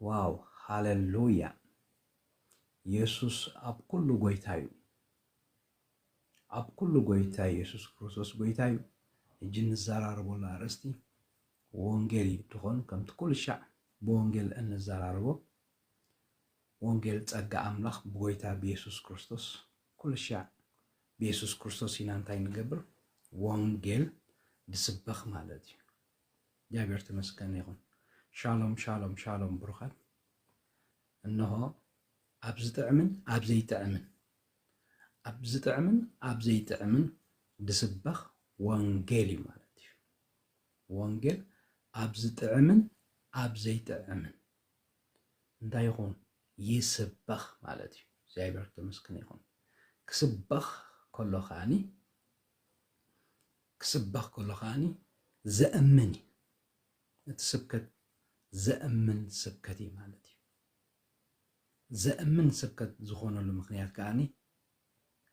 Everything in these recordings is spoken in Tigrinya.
ዋው ሃለሉያ የሱስ ኣብ ኩሉ ጎይታ ዩ ኣብ ኩሉ ጎይታ የሱስ ክርስቶስ ጎይታ ዩ ሕጂ ንዘራረበሉ ኣርእስቲ ወንጌል ዩ ትኾን ከምቲ ኩሉ ሻዕ ብወንጌል እንዘራረቦ ወንጌል ጸጋ ኣምላኽ ብጎይታ ብየሱስ ክርስቶስ ኩሉ ሻዕ ብየሱስ ክርስቶስ ኢና እንታይ ንገብር ወንጌል ንስበኽ ማለት ዩ እግዚኣብሔር ተመስገን ይኹን። ሻሎም ሻሎም ሻሎም ብሩኻት እነሆ ኣብ ዝጥዕምን ኣብ ዘይጥዕምን ኣብ ዝጥዕምን ኣብ ዘይጥዕምን ዝስበኽ ወንጌል እዩ ማለት እዩ ወንጌል ኣብ ዝጥዕምን ኣብ ዘይጥዕምን እንታይ ይኹን ይስበኽ ማለት እዩ እግዚኣብሔር ተመስገን ይኹን ክስበኽ ከሎ ከዓኒ ክስበኽ ከሎ ከኣኒ ዘእምን እዩ። እቲ ስብከት ዘእምን ስብከት እዩ ማለት እዩ። ዘእምን ስብከት ዝኾነሉ ምኽንያት ከኣኒ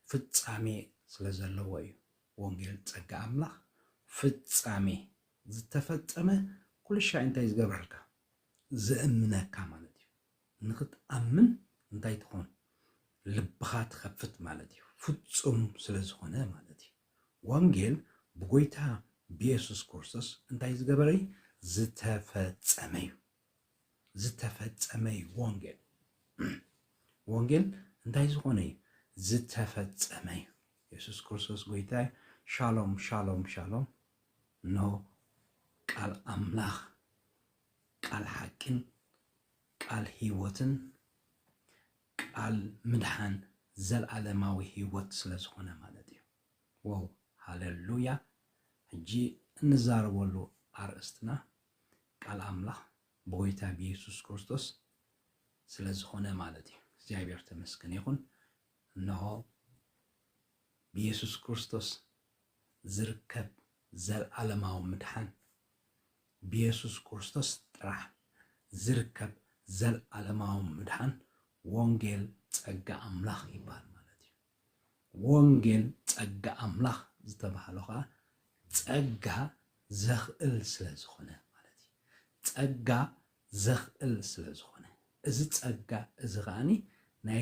ፍጻሜ ስለ ዘለዎ እዩ። ወንጌል ጸጋ ኣምላኽ ፍጻሜ ዝተፈጸመ ኩልሻይ እንታይ ዝገብረልካ ዘእምነካ ማለት እዩ። ንኽትኣምን እንታይ ትኾን ልብኻ ትኸፍት ማለት እዩ ፍጹም ስለ ዝኾነ ማለት እዩ ወንጌል ብጎይታ ብየሱስ ኩርስቶስ እንታይ ዝገበረ እዩ ዝተፈጸመ እዩ ዝተፈጸመ እዩ ወንጌል ወንጌል እንታይ ዝኾነ እዩ ዝተፈጸመ እዩ የሱስ ክርስቶስ ጎይታ እዩ ሻሎም ሻሎም ሻሎም እነሆ ቃል ኣምላኽ ቃል ሓቂን ቃል ህይወትን ቃል ምድሓን ዘልኣለማዊ ህይወት ስለ ዝኾነ ማለት እዩ። ዎው ሃለሉያ ሕጂ እንዛረበሉ ኣርእስትና ቃል ኣምላኽ ብጎይታ ብየሱስ ክርስቶስ ስለ ዝኾነ ማለት እዩ። እግዚኣብሔር ተመስገን ይኹን። እነሆ ብየሱስ ክርስቶስ ዝርከብ ዘልኣለማዊ ምድሓን ብየሱስ ክርስቶስ ጥራሕ ዝርከብ ዘልኣለማዊ ምድሓን ወንጌል ጸጋ ኣምላኽ ይብሃል ማለት እዩ። ወንጌል ጸጋ ኣምላኽ ዝተባህሎ ከኣ ጸጋ ዘኽእል ስለ ዝኾነ ማለት እዩ። ጸጋ ዘኽእል ስለ ዝኾነ እዚ ጸጋ እዚ ከኣ ናይ